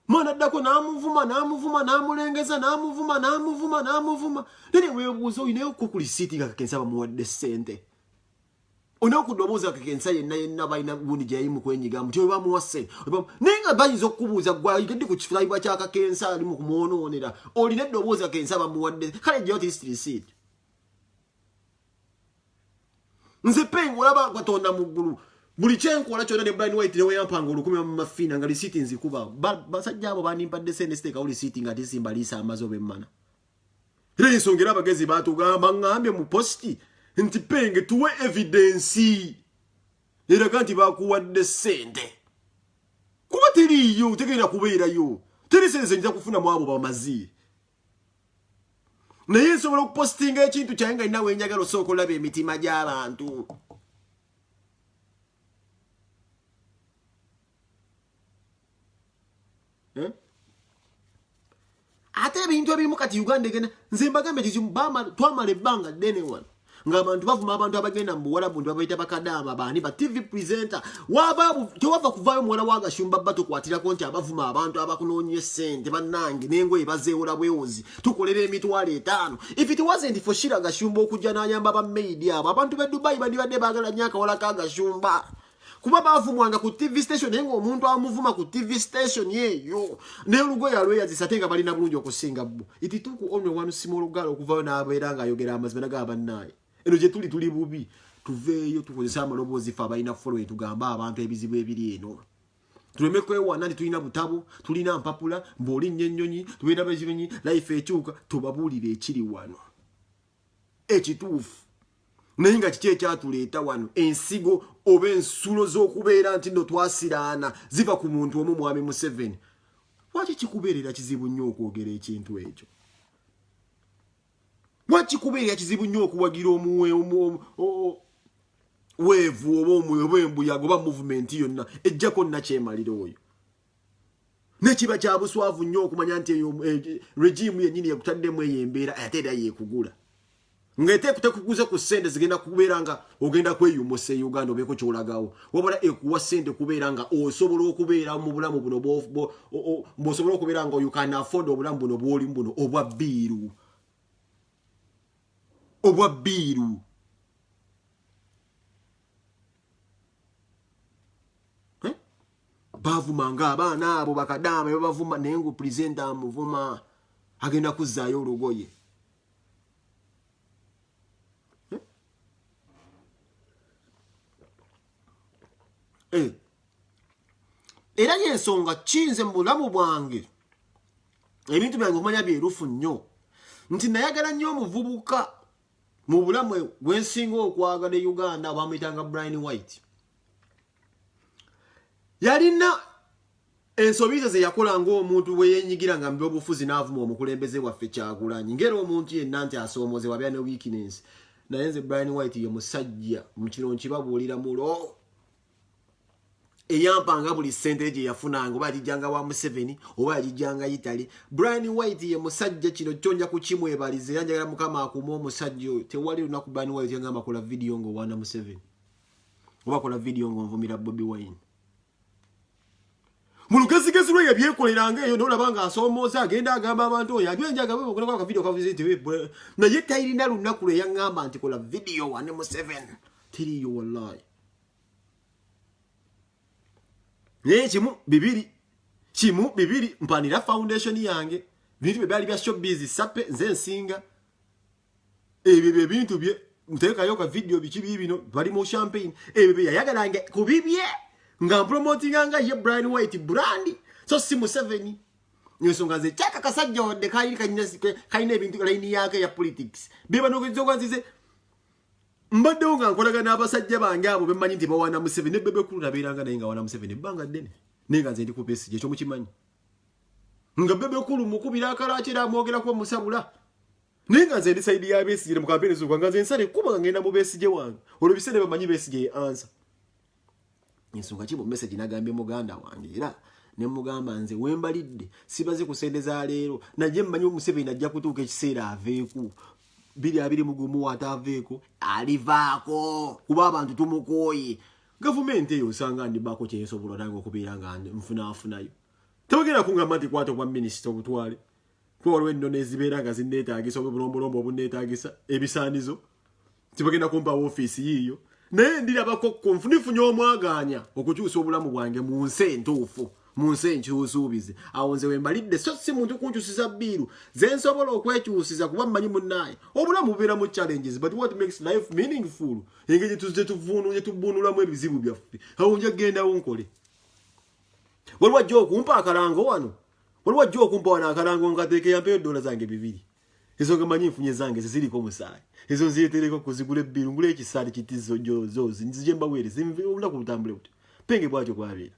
mwana addako n'amuvuma n'amuvuma n'amulengeza n'amuvuma n'amuvuma n'amuvuma naye ne weebuuza olinayo ku kulisiiti nga kakensa bamuwadde ssente olinayo ku ddobooza kakensa yenna yenna balina gundi gye yali mu kwenyiga muti oyo bamuwa ssente naye nga bayinza okukubuuza gwayigadde ku kifulabibwa kya kakensa ali mu kumwonoonera olina eddobooza kakensa bamuwadde kale gyeyo at least receipt nze peng olaba katonda mu ggulu buli kyenkola kyona ne brian white neweyampanga olukumi bamumafina nga lisiti nzikuba basajja abo bandimpadde sente siteekawo lisiti nga tisimba liisa amazi oba emmana era ensonga era abagezi batugamba ngambye mu positi nti penge tuwe evidensi eraga nti bakuwadde sente kuba teriiyo tegenda kubeerayo teri sente zenyinza kufuna mu abo bamazi naye nsobola okupositinga ekintu kyaye nga nina wenjagala osooka olaba emitima gy'abantu eh? ate ebintu ebimu kati uganda egenda nze mbagambe kizimu twamala ebbanga ddene wano ng'abantu bavuma abantu abagenda mu buwalabu nti babaita bakadaama baani ba tv presenter tewava kuvaayo muwala wa gashumba bba tukwatirako nti abavuma abantu abakunoonya essente bannange n'engoye bazeewola bwewozi tukolera emitwalo etaano if it wasn't for shira gashumba okujja n'ayamba ba maidi abo abantu be dubai bandibadde baagala nnyo akawala ka gashumba kuba bavumwanga ku tv station naye nga omuntu amuvuma ku tv station eyo neolugoye alweyazisa ate nga balina bulungi okusinga bo itituku onwe wanusima olugala okuvayo nabeera nga ayogera amazima naga bannaye eno gyetuli tuli bubi tuveeyo tukozese amaloboozi fe abalina following tugambe abantu ebizibu ebiri eno tuleme kwewana nti tulina butabo tulina mpapula mbuolinnya ennyonyi tubeera bezinyonyi life ekyuka tubabuulire ekiri wano ekituufu naye nga kiki ekyatuleeta wano ensigo oba ensulo z'okubeera nti no twasiraana ziva ku muntu omu mwami museveni lwaki kikubeerera kizibu nnyo okwogera ekintu ekyo lwaki kikubeerera kizibu nnyo okuwagira omuwe weevu oba omuwe oba embuyaga oba muvumenti yonna ejjako nnakyemalira oyo nekiba kya buswavu nnyo okumanya nti eyo e, e, regimu yennyini yekutaddemu eyo embeera ate era yekugula ngaetekuguze ku sente zigenda kubeera nga ogenda kweyumusa e uganda obeeko kyolagawo wabula ekuwa sente kubeera nga osobola okubeera mu bulamu buno bwosobola okubeera nga ukan afford obulamu buno bwolimu buno obwa biiru obwa biiru eh? bavuma nga abaana abo bakadaama bebavuma naye nga pulezidenti amuvuma agenda kuzzaayo olugoye eh? eh. era yensonga kiyinze mu bulamu bwange ebintu byange okumanya byerufu nnyo nti nayagala nnyo omuvubuka mu bulamu gwensinga okwagala e uganda bamuyitanga brian white yalina ensobi ze zeyakola ngaomuntu bweyenyigira nga mubyobufuzi naavuma omukulembeze waffe kyagulanyi ngaera omuntu yenna nti asoomoozebwa abeera ne weakness naye nze brian white ye musajja mukino nkibabuulira mulo eyampanga buli sente gye yafunanga oba yagijjanga wa museveni oba yagijjanga italy brian white ye musajja kino kyo nja kukimwebaliza era njagala mukama akuuma omusajja oyo tewali lunaku brian white yangamba kola vidiyo ngaowaana museveni oba kola vidiyo ngaonvumira bobi wine mu lugezigezi lwe yebyekoleranga eyo nolaba nga asoomooza agenda agamba abantu oyo anywa enjagaakavidiyo naye tayirina lunaku lwe yangamba nti kola vidiyo wane museveni tiriyo wallahi naye kimu bibiri kimu bibiri mpanira foundation yange bintu bye byali bya showbiz sape nze nsinga ebyo bye bintu bye ntekayo ka video biki bibino bali mu champagne ebyo bye yayagalanga kubibye nga promotinga nga ye Brian White brand so si mu seven nsonga ze chaka kasajja wadde kayiri kanyina kalina ebintu line yake ya politics beba nogezo kwanzize mbaddewo nga nkolagana abasajja bange abo bemanyi nti bawana museveni ne bebe kulu nabeeranga naye nga wana museveni ebbanga ddene naye nga nze ndi ku besigye ekyo mukimanyi nga bebe kulu mukubira akalaaki era amwogerako omusabula naye nga nze ndi saidi ya besigye ne mukampeereza okwa nga nze nsale kuba nga ngenda mu besigye wange olwo biseera bamanyi besigye ye ansa ensonga kimu message nagambye muganda wange era nemugamba nze wembalidde sibaze ku sente za leero naye mmanyi omuseveni ajja kutuuka ekiseera aveeku biri abiri mugumu ataaveeko alivaako kuba abantu tumukooye gavumenti eyo osanga ndibaako kyensobola nange okubeera nga nfunafunayo tebagenda kungamba nti kwata obwa minisita obutwale kuba waliwo ennono ezibeera nga zinneetaagisa oba obulombolombo obunneetaagisa ebisaanizo tibagenda kumpa woofiisi yiiyo naye ndirabako kunfu nifunye omwagaanya okukyusa obulamu bwange mu nsi entuufu mu nsi enkyusuubize awo nze wembalidde so si muntu kunkyusiza bbiiru ze nsobola okwekyusiza kuba mmanyi munnaaye obulamu bubeeramu challenges but what makes life meaningful engeri gyetuvunugyetubunulamu ebizibu byaffe awo nja kugendawo nkole waliwo ajja okumpa akalango wano Waliwo ajja okumpa wano akalango nkateeke yampeyo ddoola zange bibiri. Ezo nga manyi nfunye zange ze ziriko omusaayi. Ezo nzireetereko kuzigula ebbiru ngule ekisaati kiti zo jo zo nzije mbaweere zinve olunaku lutambule butyo. Penge bwatyo bwabeera.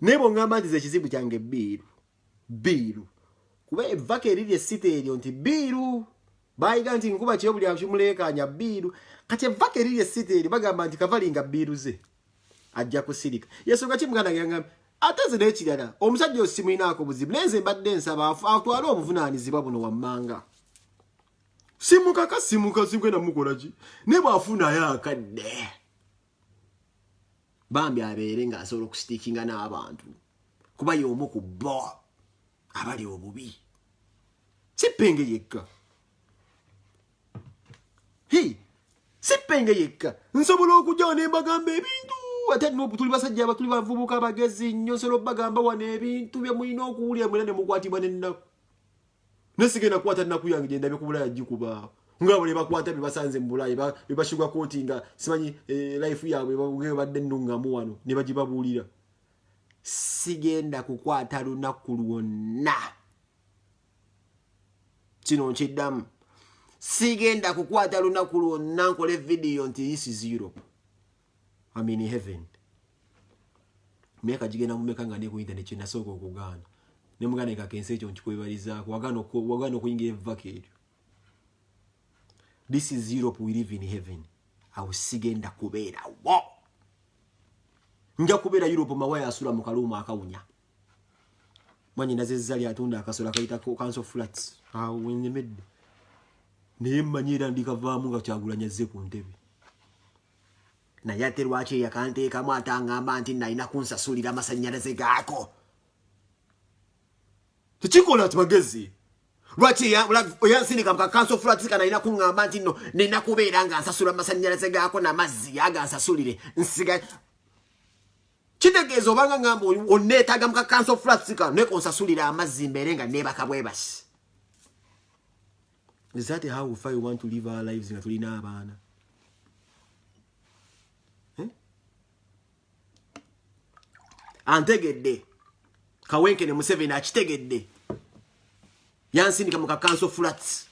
Naye bw'oŋŋamba nti ze ekizibu kyange bbiiru bbiiru kuba evvako eriri essita eryo nti bbiiru baayiga nti nkuba kyo buli akimuleekaanya bbiiru kati evvako eriri essita eryo bagamba nti kavalinga bbiiru ze. ajja kusirika yesonga ki muganda yangamba ate nze nekirala omusajja osimulinaako buzibu naye nze mbadde nsaba atwale obuvunaanyizibwa buno wammanga simukaka simuka simugenda mukolaki naye bwafunayo akadde bambi abeere nga asobola okusitiikinga n'abantu kuba y'omu ku bo abali obubi sipenge yekka sippenge yekka nsobola okujjawo ne mbagamba ebintu ate tuli basajja abatuli bavubuka abagezi nnyo nsobola obagamba wano ebintu bye mulina okuwulira mwena ne mukwatibwa nennaku naye sigenda kukwata nnaku yange gye ndabe ku bulaya gikubaawo ngaabo ne bakwata bye basanze mu bulaya be bashuga kooti nga simanyi eh, life yaabwe babadde nnungamu wano ne bagibabuulira sigenda kukwata lunaku lwonna kino nkiddamu sigenda kukwata lunaku lwonna nkola evidiyo nti this is europe am in heaven myaka gigenda mumeka nga ne ku internet kyenasooka okugaana ne muganda ekaka ensi ekyo nkikwebalizaako wagaana okuyingira evvaka eryo this is europe we live in heaven awo sigenda kubeerawo nja kubeera europe mawaya asula mu kaluumu akawunya mwanyi nazezza lyatunda akasola kayita kanso flats awo wenyemedde naye mmanyi era ndikavaamu nga kyagulanya zze ku ntebe naye ate lwaki eyakanteekamu atangamba nti nalina kunsasulira amasannyalaze gaako tekikola ti magezi lwaki eyansindika mukakanso flats ka nalina kuŋŋamba nti no nina kubeera nga nsasula amasannyalaze gaako namazzi yaga nsasulire nsiga Kitegeeza obanga ngamba onneetaaga mu kakanso flats kano naye konsasulira amazzi mbeere nga neebaka bwebasi. Is that how we far you want to live our lives nga tulina abaana? Eh? Antegedde. Kawenke ne Museveni akitegedde. Yansindika mu kakanso flats.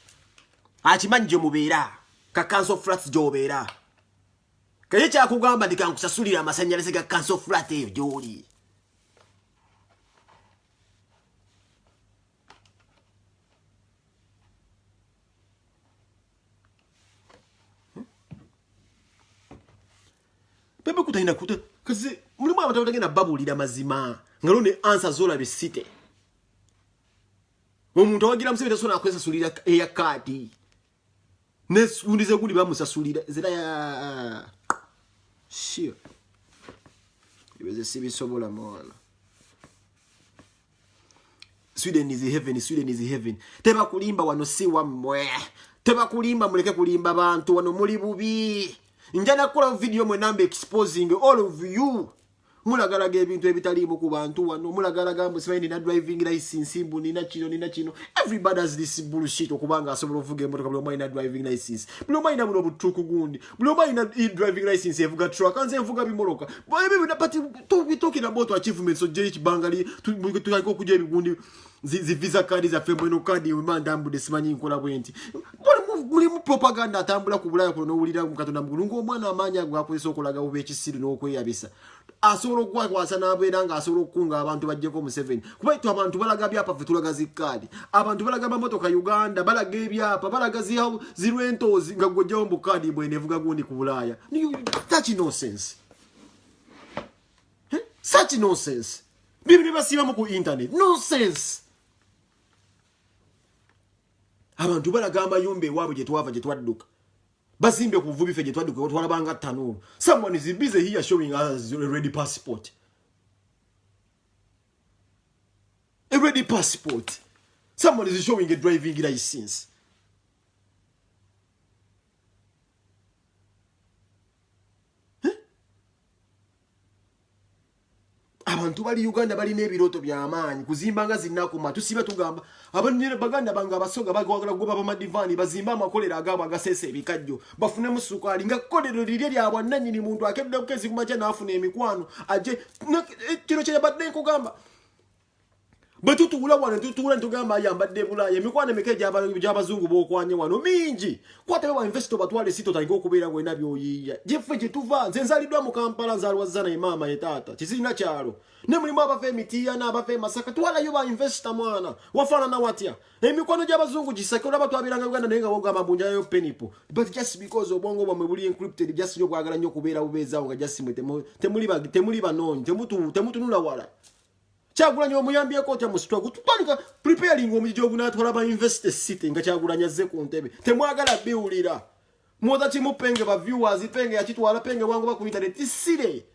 Akimanyi gye mubeera. Kakanso flats gy'obeera. kaye kyakugamba ndi kankusasulira amasanyalaze ga kanso flat eyo gyoli bebe kutalina kuta kazi mulimu abantu abatagenda babuulira mazima nga lwo ne ansa zolabye site omuntu awagira museveni tasobola nakusasulira eya kaadi nesundi zeguli bamusasulira zira ya sio ibeze sibisobola mwana sweden is heaven sweden is heaven teba kulimba wano si wamwe teba kulimba muleke kulimba bantu wano muli bubi njana kula video mwe namba exposing all of you mulagalaga ebintu ebitaliimu ku bantu wano mulagalaga mbu simanyi nina driving license mbu nina kino nina kino everybody has this bullshit okuba nga asobola okuvuga emotoka buli omu alina driving license buli omu alina buno butuuku gundi buli omu alina driving license evuga truck nze envuga bimoloka ebyo byona but talking about achievements ojjeyo ekibangali tulika okujja ebigundi zi visa card za fe mweno card yo manda ambu desimanyi nkola bwenti muli muli mu propaganda atambula ku bulaya kuno wulira mu katonda mugulu ngo mwana amanya gwa kuliso okulaga ube ekisiru no kweyabisa asoro kwa kwa sana abera nga asoro kunga abantu bajje ko mu 7 kuba itu abantu balaga bya pa fitula gazi card abantu balaga ba motoka uganda balaga bya pa balaga zi hau zi rentos nga gojja ombo card bwene vuga gundi ku bulaya ni touch no sense eh? such nonsense bino byebasiibamu ku internet nonsense abantu balaga amayumba ewaabwe gyetwava gyetwadduka bazimbe ku buvubi fe gyetwadduka otwalabanga tanuulu someone is busy here showing us ready passport a ready passport someone is showing a driving license abantu bali uganda balina ebirooto byamaanyi kuzimba nga zinakuma tusiba tugamba baganda bange abasoga bagwagala kugoba bamadivaani bazimbe amakolero agaabo agaseesa ebikajjo bafunemu sukaali nga kolero lirye lya bwannanyini muntu akedde kukeziku makya naafuna emikwano aje kino kyeyabadde nkugamba bwe tutuula wano tutuula netugamba ayambadde bulaaya emikwano emika egyabazungu bokwanye wano mingi kwatabe ba investo batwala esi totandika okubeera wena byoyiiya gyeffe gyetuva nze nzaliddwa mu kampala nzalwazza naye maama ye taata kizirina kyalo ne mulimu abava emitiiyana abava emasaka twalayo ba investo mwana wafaanana watya emikwano gy'abazungu gisake olaba twabeeranga uganda naye nga wogamba mbunjalayo penipo but just because obwongo bwamwe buli encrypted just nyo bwagala nnyo okubeera bubeezaawo nga just mwe temuli banoonyi temutunula wala Kyagulanyi omuyambyeko otya mu struggle tutandika preparing omujiji ogunatwala ba university city nga Kyagulanyi azze ku ntebe temwagala biwulira mwoza kimu penge ba viewers penge yakitwala penge wangoba ku internet isire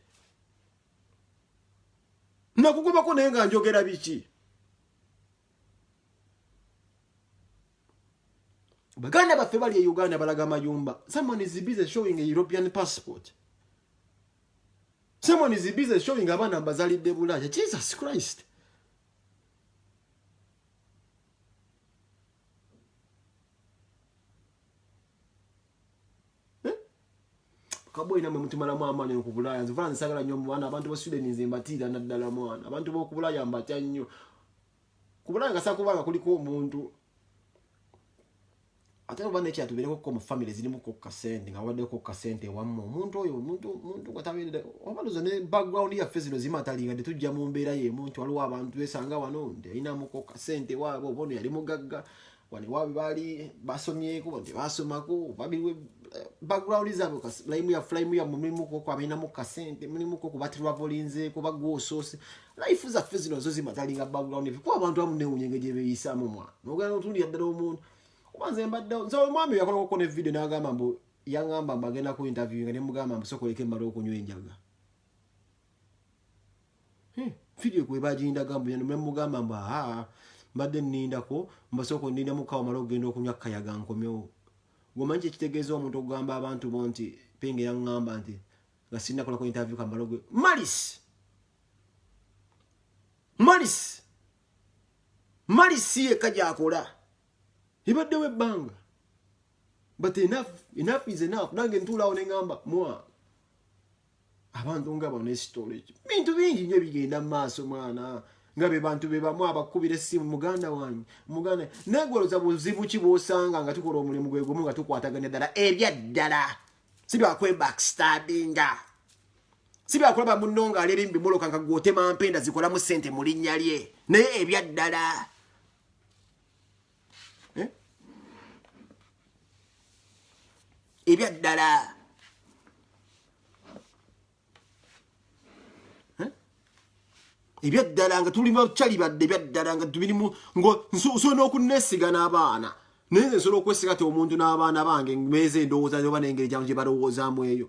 nakugobako naye nga njogera biki baganda baffe bali e uganda balaga mayumba someone is busy showing a european passport Someone is busy showing abaana mbazalidde bulaya. Jesus Christ. Eh? kaboyi namwe mutumalamu amaanyi oku bulaaya nze vula nsagala nnyo mubana abantu ba sweden nze mbatiira naddala mwana abantu b'oku bulaaya mbatya nnyo ku bulaaya nga sakuba nga kuliko omuntu ate oba nekyala tuberekokko mu famiry zirimu kokka sente nga wabaddeko kokka sente ewamma omuntu oyo omuntu nga tabeerera oba loza ne background yaffe zino zimatalinga nti tujja mu mbeera yemu nti waliwo abantu besanga wano nti alinamu kokka sente waabwe oba ono yali mugagga wano waabwe baali basomyeko nti basomako babiwe eh, background zaabwe layimu ya fulayimu ya mumirimu koko abalinamu kasente mulimu koko batirabolinzeeko bagwa osoose life zaffe zino zo zimatalinga background kuba abantu amu newunya engeri gyebeyisamu omwana nogenda notundira ddala omuntu kuba nze mbadde nze omwami yakolakoko ne video nagamba mbu yangamba mbu agenda ku interview nga nemugamba mbu sokoleka emmala okunywa enjaga hmm, video kwebagindaga mbu nemugamba mbu aha mbadde nnindako mbasooka onninda mukawo mala okugenda okunywa kayaga nkomyewo gomanyi kyekitegeeza omuntu okugamba abantu bo nti penge yangamba nti nga sinakolako interview kamala malis malis malis si yekka gyakola ebaddewo ebbanga but enough enough is enough nange ntuulaawo ne ŋamba mwa abantu nga bano esitole ekyo bintu bingi nyo bigenda mu maaso mwana nga be bantu be bamu abakubira essimu muganda wange muganda naye gwoloza buzibu ki bwosanga nga tukola omulimu gwe gumu nga tukwataganya ddala ebyaddala si byakwebakistabinga si byakulaba munno nga aleera embi muloka nga gwotema mpenda zikolamu ssente mu linnya lye naye ebyaddala eh? ebyaddala eh? ebyaddala nga tuli bacali badde ebyaddala nga tubirimu nsobola n'okuneesiga n'abaana naye nze nsobola okwesiga ti omuntu n'abaana bange meeza endowooza oba n'engeri gyamu gye balowoozaamu eyo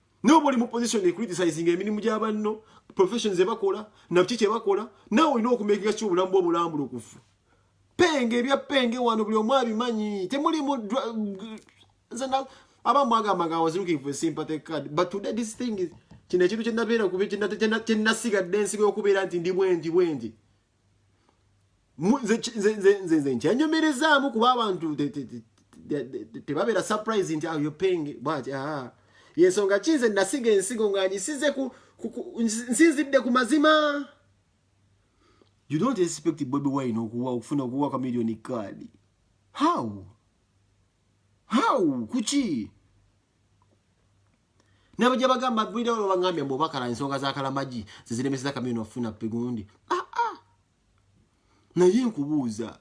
nawe boli mu position ecriticisinga emirimu gya banno professions ebakola nabki kyebakola nawe olina okumekinga ki obulamu bwobulambulukufu penge ebya penge wano buli omu abimanyi temulimu aba mwagamba nga was looking for sympathy card but today this thing is kino ekintu kyenabeera kuba kyenasigadde ensigo yokubeera nti ndi bwendi bwendi nze nkyanyomerezaamu kuba abantu tebabeera surprise nti ayo ah, penge bwati ah. yensonga ki nze nasiga ensigo nga ngisize nsinzidde ku mazima you don't expect bobi wine okuwa okufuna okuwa ka million card how how kuki nabo gye bagamba gwira olwo bangambye mbu bakala ensonga za kalamagi ziziremeseza kamino ofuna pigundi aa ah, ah. naye nkubuuza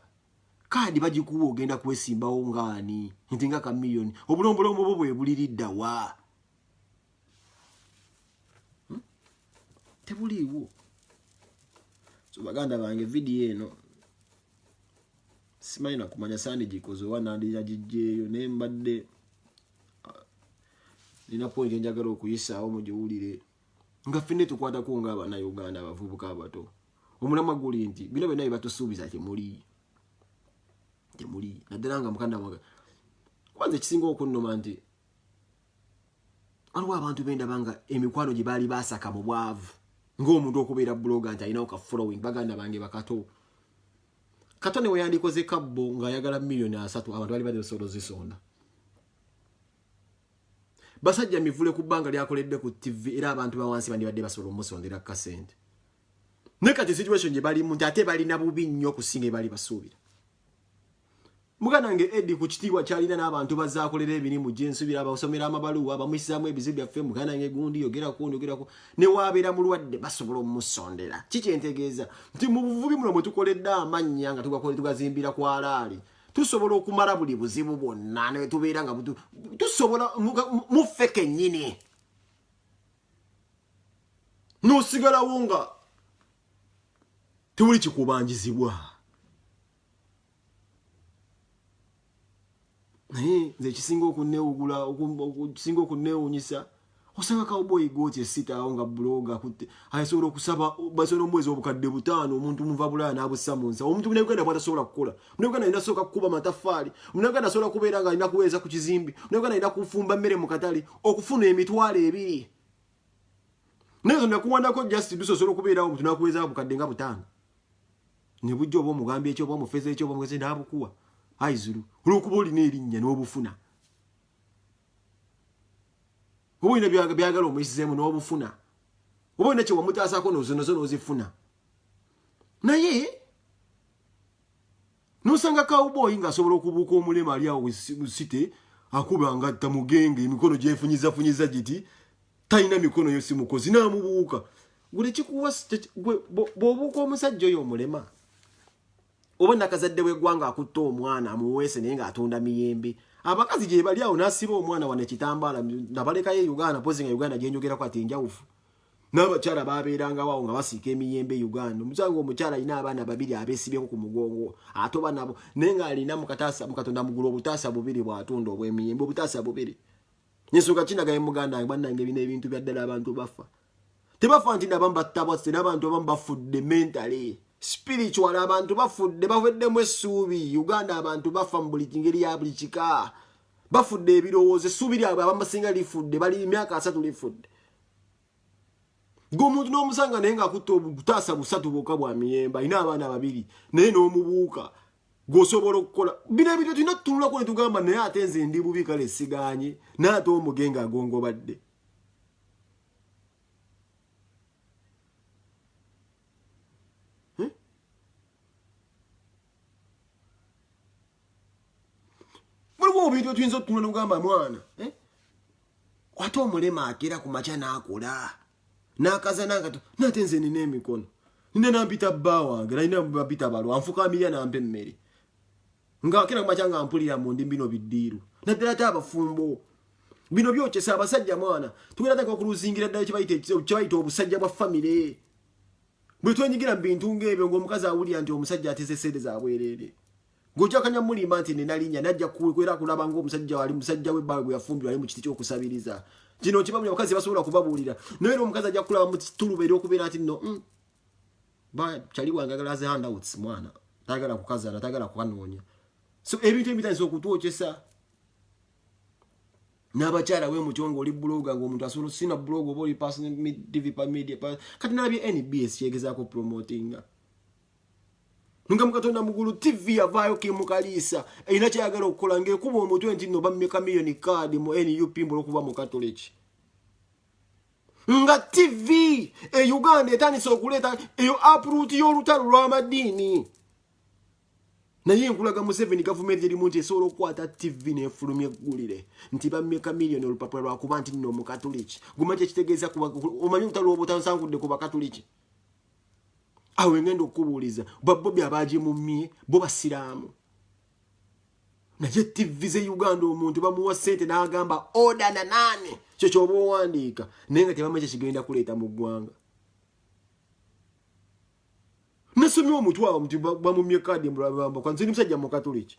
kaadi bagikuwa ogenda kwesimbawo ngaani nti nga kamiliyoni obulombolombo bwo bwebuliriddawa hmm? tebuliiwo so baganda bange vidiyo eno simanyi nakumanya sandigikoze oba nandira gijjeeyo naye mbadde ah, nina point enjagala okuyisaawo mugiwulire nga fenne tukwatako nga abanauganda abavubuka abato omulama guli nti bino byonna byebatusuubiza temuli temuli naddala nga mukanda mwaga kubanza ekisinga okunnuma nti waliwo abantu bendaba nga emikwano gye baali basaka mu bwavu ngaomuntu okubeera buloga nti alinawo ka following baganda bange bakato kata ne weyandikoze kabbo ng'ayagala miliyoni asatu abantu bali bazisobola ozisonda basajja mivule ku bbanga lyakoledde ku ttivi era abantu bawansi bandibadde basobola omusondera kasente naye kati situation gye balimu nti ate balina bubi nnyo okusinga ebali basuubira Muganange Eddy ku kitiibwa kyalina n'abantu bazaakolera emirimu gye nsubira abasomera amabaluwa bamusizaamu ebizibu byaffe muganange gundi yogerako ndi yogerako ne waabeera mulwadde basobola omusondera ki kyentegeeza nti mu buvubi muno mwe tukoledde amannya nga tugakole tugazimbira ku alaali tusobola okumala buli buzibu bwonna ne tubeera nga tusobola muffe kennyini n'osigalawo nga tewuli kikubanjizibwa naye nze ekisinga okunewugula okusinga okunewunyisa osanga cowboy gooti esitaawo nga buloga kutte asobola okusaba basobola omuweza obukadde butaano omuntu muva bulaya n'abussa mu nsawo omuntu munauganda bwatasobola kukola munauganda alina sooka kukuba mataffaali munauganda asobola kubeera nga alina kuweereza ku kizimbi munauganda alina kufumba mmere mu katale okufuna emitwalo ebiri naye zo nakuwandako just dusa osobola okubeerawo omuntu nakuweeza bukadde nga butaano ne bujja oba omugambye ekyo oba omufeze ekyo oba omugeze n'abukuwa ayi zulu olwokuba olina erinnya n'obufuna oba olina byagala omuyisizeemu n'obufuna oba olina kye wamutaasako nozonozo n'ozifuna naye n'osanga kawubooyi ng'asobola okubuuka omulema ali awo site akuba nga tamugenge emikono gyefunyizafunyiza giti talina mikono yo simukozi n'amubuuka gule kikuwa bwobuuka omusajja oyo omulema oba nakazadde wegwanga akutte omwana amuweese naye ngaatunda miyembe abakazi gyebali awo nasiba omwana wana ekitambaala nabalekayo e uganda pozi nga uganda gyenjogerako ati enjawufu n'abakyala babeerangawo awo nga basiika emiyembe e uganda omusanga omukyala alina abaana babiri abesibyeko ku mugongo atoba nabo naye ng'alina mukataasa mukatonda mugulu obutaasa bubiri bw'atunda obw'emiyembe obutaasa bubiri nensonga kinagaye muganda wange banange bino ebintu byaddala abantu bafa tebafa nti nabamu battabwasse n'abantu abamu bafudde mentale spiritual abantu bafudde baweddemu essuubi uganda abantu bafa mu buli kingeri ya buli kika bafudde ebirowoozo essuubi lyabwe abamusinga lifudde bali emyaka asatu lifudde gweomuntu n'omusanga naye ngaakutte obutaasa busatu bwoka bwa miyemba alina abaana babiri naye n'omubuuka gwosobola okukola bino ebintu tulina tutunulako ne tugamba naye ate nze ndi bubi kale siganye naye ate omugenge agongobadde hmm? waliwo obintu etuyinza otutunula ne kugamba mwana eh? ate omulema akera ku makya n'akola n'akaza nangato nate nze nina emikono nina nampita bba wange nalina bapita balwa anfukaamirira nampa emmere ngaakera ku makya nga mpulira mu ndi bino biddiiru naddala te abafumbo bino byokyesa abasajja mwana tugenda taka okuluzingira ddala kyebayita obusajja bwa famire bwe twenyigira mu bintu ng'ebyo ng'omukazi awulira nti omusajja ateze sente za bwereere Gojakanya mulimba nti nina linya najja kukwera kulaba ngo omusajja wali musajja we bawe gweyafumbirwa ali mu kiti kyokusabiriza kino kibamu abakazi basobola kubabuulira naye era omukazi ajja kulaba mu kituluba era okubeera nti no mm, ba chali wange agala ze handouts mwana tagala kukazala tagala kukanoonya so ebintu ebitandisa okutwokyesa n'abakyala we mutyo ng'oli buloga ng'omuntu asobola sina buloga oba oli pasdvpa media kati nalabye nbs kyegezaako promotinga nga mukatonda mugulu tv yavaayo kimukaliisa erina kyayagala okukola ngaekuba omutwe nti no bameka miyoni kaadi mu nup mbula okuba mukatoliki nga tv e uganda etandise okuleeta eyo apruti y'olutalo lw'amadiini naye nkulaga museveni gavumenti erimu nti esobola okukwata tv nefulumya eggulire nti bameka miliyoni olupapula lwakuba nti nno omukatuliki guma kyekitegeeza omanyi olutalo lwobutansankudde ku bakatuliki awo engenda okubuuliza babobi abaaje mu mye bo basiraamu naye tivi ze uganda omuntu bamuwa sente n'agamba oda na naani kyo kyoba owandiika naye nga tebamanyi kyekigenda kuleeta mu ggwanga nasomye omutwawo nti bamumye kadi mbulabaambakanziri musajja mukatuliki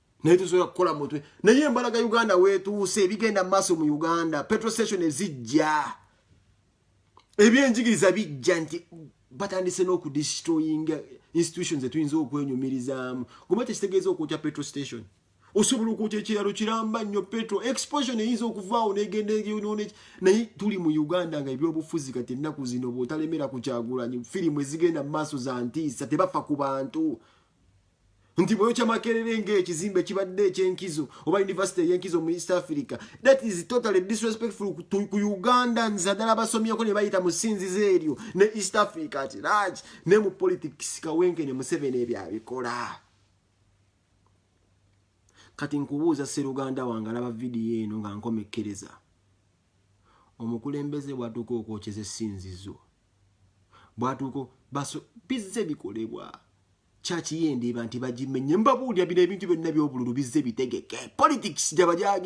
naye tusobola kukola mutwe naye embalaga uganda wetuuse ebigenda maaso mu uganda petrostation ezijja ebyenjigiriza bijja nti batandise n'okudistroyinga institution zetuyinza okwenyumirizaamu guma tekitegeeza okwokya petro station osobola okwokya ekiralo kiramba nnyo petro exposion eyinza okuvaawo negenda eyonoone naye tuli mu uganda nga ebyobufuzi kati ennaku zino bwotalemera ku kyagulanyi firimu ezigenda mu maaso za ntiisa tebafa ku bantu nti bweyokya makerere ngaekizimbe kibadde ekyenkizo oba univesity eyenkizo mu east africa that is totally disrespectful ku ugandans addala abasomyeko nebayita mu sinzizo eryo ne east africa ati laki ne mu politics kawenke ne museveni ebyo abikola kati nkubuuza seruganda wange alaba vidiyo eno nga nkomekkereza omukulembeze bwatuuka okwokyeza esinzizo bwatuuka baso bizze bikolebwa Church ye Ndeeba nti bagimenye. Mbabuulira bino ebintu byonna eby'obululu bizze bitegeke. Politics gyaba gyage.